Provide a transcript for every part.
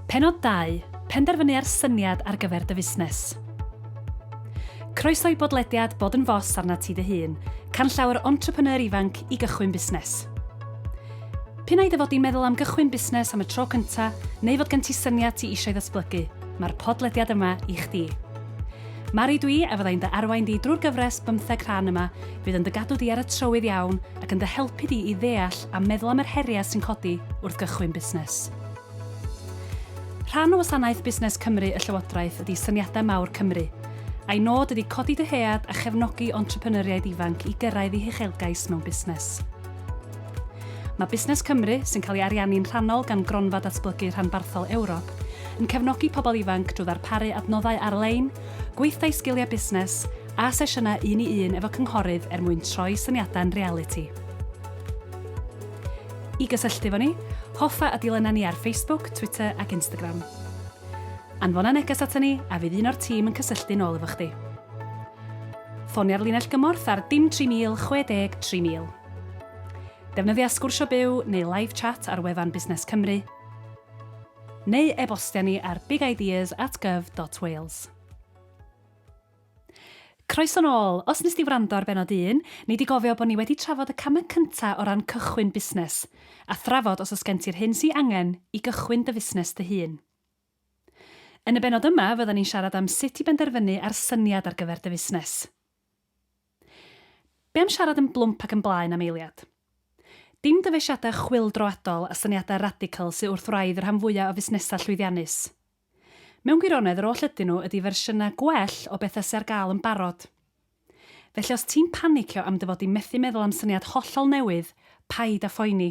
Pennod 2, Penderfynu ar syniad ar gyfer dy fusnes. Croeso i bodlediad Bod yn Fos arnat ti dy hun, canllaw entrepreneur ifanc i gychwyn busnes. P'un ai dy fod di'n meddwl am gychwyn busnes am y tro cynta, neu fod gen ti syniad ti eisiau ddatblygu, mae'r podlediad yma i chdi. Mari dwi a fyddai'n dy arwain di drwy'r gyfres bymtheg rhan yma fydd yn dy gadw di ar y trywydd iawn ac yn dy helpu di i ddeall a meddwl am yr heriau sy'n codi wrth gychwyn busnes. Rhan o wasanaeth Busnes Cymru y Llywodraeth ydy Syniadau Mawr Cymru, a'i nod ydy codi dyhead a chefnogi entrepreneuriaid ifanc i gyrraedd eu huchelgais mewn busnes. Mae Busnes Cymru, sy'n cael ei ariannu'n rhannol gan Gronfa Datblygu Rhanbarthol Ewrop, yn cefnogi pobl ifanc drwy ddarparu adnoddau ar-lein, gweithdai sgiliau busnes, a sesiynau un i un efo cynghorydd er mwyn troi syniadau'n realiti. I gysylltu efo ni, hoffa a dilyna ni ar Facebook, Twitter ac Instagram. Anfona neges ato ni a fydd un o'r tîm yn cysylltu'n ôl efo chdi. Ffonia'r linell gymorth ar dim 3000 60 3000. Defnyddia sgwrsio byw neu live chat ar wefan Busnes Cymru, neu e-bostia ni ar bigideas at gov.wales. Croeso nôl! Os wnest ti wrando ar bennod un, nei di gofio bod ni wedi trafod y camau cynta o ran cychwyn busnes, a thrafod os oes gen ti'r hyn sy angen i gychwyn dy fusnes dy hun. Yn y bennod yma fyddan ni'n siarad am sut i benderfynu ar syniad ar gyfer dy fusnes. Be am siarad yn blwmp ac yn blaen am eiliad? Dim dyfeisiadau chwyldroadol a syniadau radical sy wrth wraidd y rhan fwya o fusnesau llwyddiannus. Mewn gwirionedd, yr oll ydyn nhw ydy fersiynau gwell o bethau sy ar gael yn barod. Felly os ti'n panicio am dy fod di methu meddwl am syniad hollol newydd, paid â phoeni.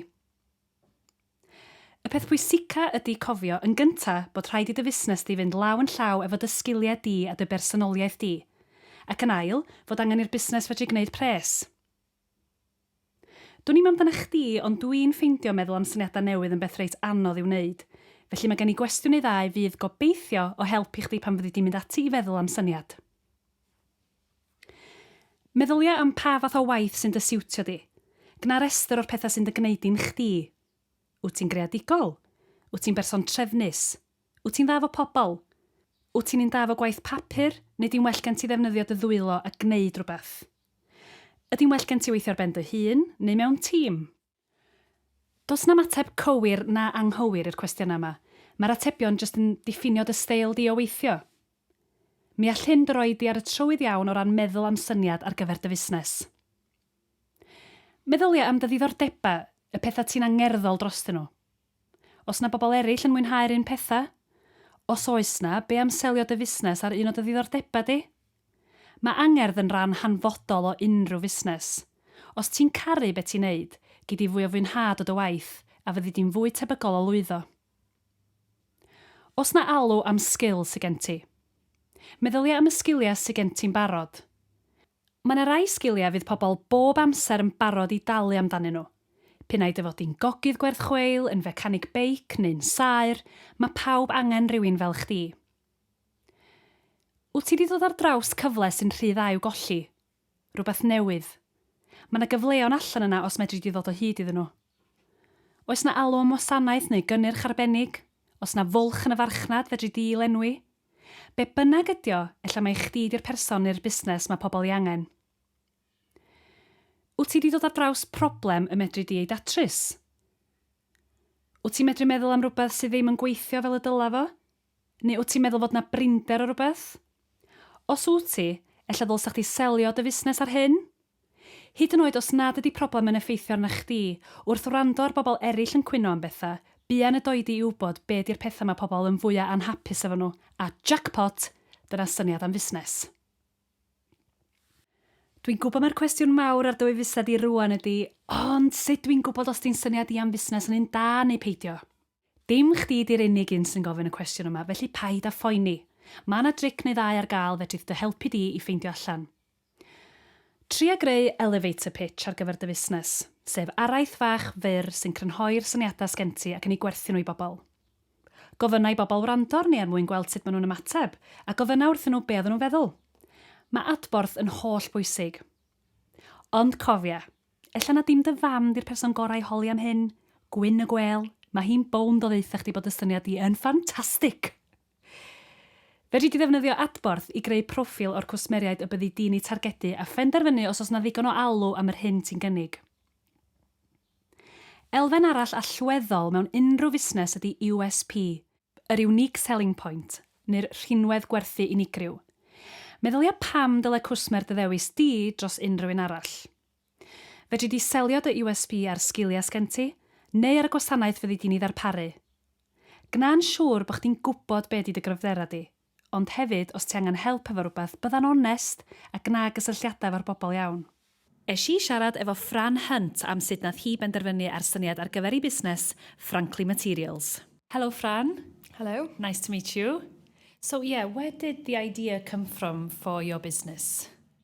Y peth pwysica ydy cofio, yn gynta, bod rhaid i dy fusnes di fynd law yn llaw efo dy sgiliau di a dy bersonoliaeth di. Ac yn ail, fod angen i'r busnes fedru gwneud pres. Dwn i'm amdanach chdi, ond dw i'n ffeindio meddwl am syniadau newydd yn beth reit anodd i'w wneud. Felly mae gen i gwestiwn neu ddau fydd, gobeithio, o help i chdi pan fyddi di'n mynd ati i feddwl am syniad. Meddylia am pa fath o waith sy'n dy siwtio di. Gwna restr o'r pethau sy'n dy gwneud di'n chdi. Wyt ti'n greadigol? Wyt ti'n berson trefnus? Wyt ti'n dda efo pobl? Wyt ti'n un da efo gwaith papur, neu di'n well gen ti ddefnyddio dy ddwylo a gwneud rhywbeth? Ydi'n well gen ti weithio ar ben dy hun neu mewn tîm? Does 'na'm ateb cywir na anghywir i'r cwestiynau yma, mae'r atebion jyst yn diffinio dy steil di o weithio. Mi all hyn dy roi di ar y trywydd iawn o ran meddwl am syniad ar gyfer dy fusnes. Meddylia am dy ddiddordebau, y pethau ti'n angerddol drostyn nhw. Oes 'na bobl eraill yn mwynhau'r un pethau? Os oes 'na, be am selio dy fusnes ar un o dy ddiddordebau di? Mae angerdd yn ran hanfodol o unrhyw fusnes. Os ti'n caru be ti'n neud, gei di fwy o fwynhad o dy waith a fyddi di'n fwy tebygol o lwyddo. Oes 'na alw am sgil sy gen ti? Meddylia am y sgiliau sy gen ti'n barod. Mae 'na rai sgiliau fydd pobl bob amser yn barod i dalu amdanyn nhw. P'un ai dy fod di'n gogydd gwerth chweil, yn fecanig beic neu'n saer, mae pawb angen rhywun fel chdi. Wyt ti 'di dod ar draws cyfle sy'n rhy dda i'w golli? Rhywbeth newydd? Mae 'na gyfleon allan yna os medri di ddod o hyd iddyn nhw. Oes 'na alw am wasanaeth neu gynnyrch arbennig? Os 'na fwlch yn y farchnad fedri di'i lenwi? Be bynnag ydi o, ella mai chdi 'di'r person neu'r busnes mae pobl ei angen. Wyt ti 'di dod ar draws problem y medri di ei datrys? Wyt ti'n medru meddwl am rhywbeth sydd ddim yn gweithio fel y dyla fo? Neu wt ti'n meddwl fod 'na brinder o rywbeth? Os wt ti, ella ddylsa chdi selio dy fusnes ar hyn? Hyd yn oed os nad ydi problem yn effeithio arna chdi, wrth wrando ar bobl erill yn cwyno am betha, buan y doi di i wbod be di'r petha ma pobl yn fwya anhapus efo nhw, a jackpot! dyna syniad am fusnes. Dwi'n gwbod mai'r cwestiwn mawr ar dy wefused di rŵan ydi, ond sut dwi'n gwbod os di'n syniad i am fusnes yn un da neu peidio? Dim chdi di'r unig un sy'n gofyn y cwestiwn yma, felly paid â phoeni. Mae 'na dric neu ddau ar gael fedrith dy helpu di i ffeindio allan. Tria greu elevator pitch ar gyfer dy fusnes, sef araith fach fyr sy'n crynhoi'r syniadau sgen ti ac yn eu gwerthu nhw i bobl. Gofynna i bobl wrando arni er mwyn gweld sut maen nhw'n ymateb, a gofynna wrthyn nhw be oedden nhw'n feddwl. Mae adborth yn holl bwysig. Ond cofia, Ella na dim dy fam 'di'r person gorau i holi am hyn, Gwyn y Gwêl, mae hi'n bownd o ddaetha chdi bod y syniad di yn ffantastig! Fedri di ddefnyddio adborth i greu proffil o'r cwsmeriaid y byddi di'n eu targedu a phenderfynu os oes 'na ddigon o alw am yr hyn ti'n gynnig. Elfen arall allweddol mewn unrhyw fusnes ydi USP, yr unique selling point, neu'r rhinwedd gwerthu unigryw. Meddylia pam dylai cwsmer dy ddewis di dros unrhyw un arall. Fedri di selio dy USP ar sgiliau sgen ti, neu ar y gwasanaeth fyddi di'n ei ddarparu. Gwna'n siŵr bod chdi'n gwybod be di dy gryfderau di. ond hefyd os ti angen help efo rwbeth, bydda'n onest a gwna gysylltiadau efo'r bobl iawn. Esh i siarad efo Fran Hunt am sut nath hi benderfynu ar syniad ar gyfer ei busnes, Frankly Materials. Helo Fran. Helo. Nice to meet you. So yeah, where did the idea come from for your business?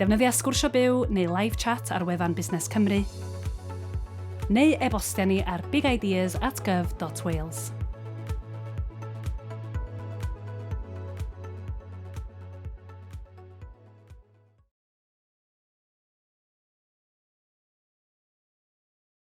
Defnyddia Sgwrsio Byw neu Live Chat ar wefan Busnes Cymru, neu e-bostia ni ar bigideas at gov.wales.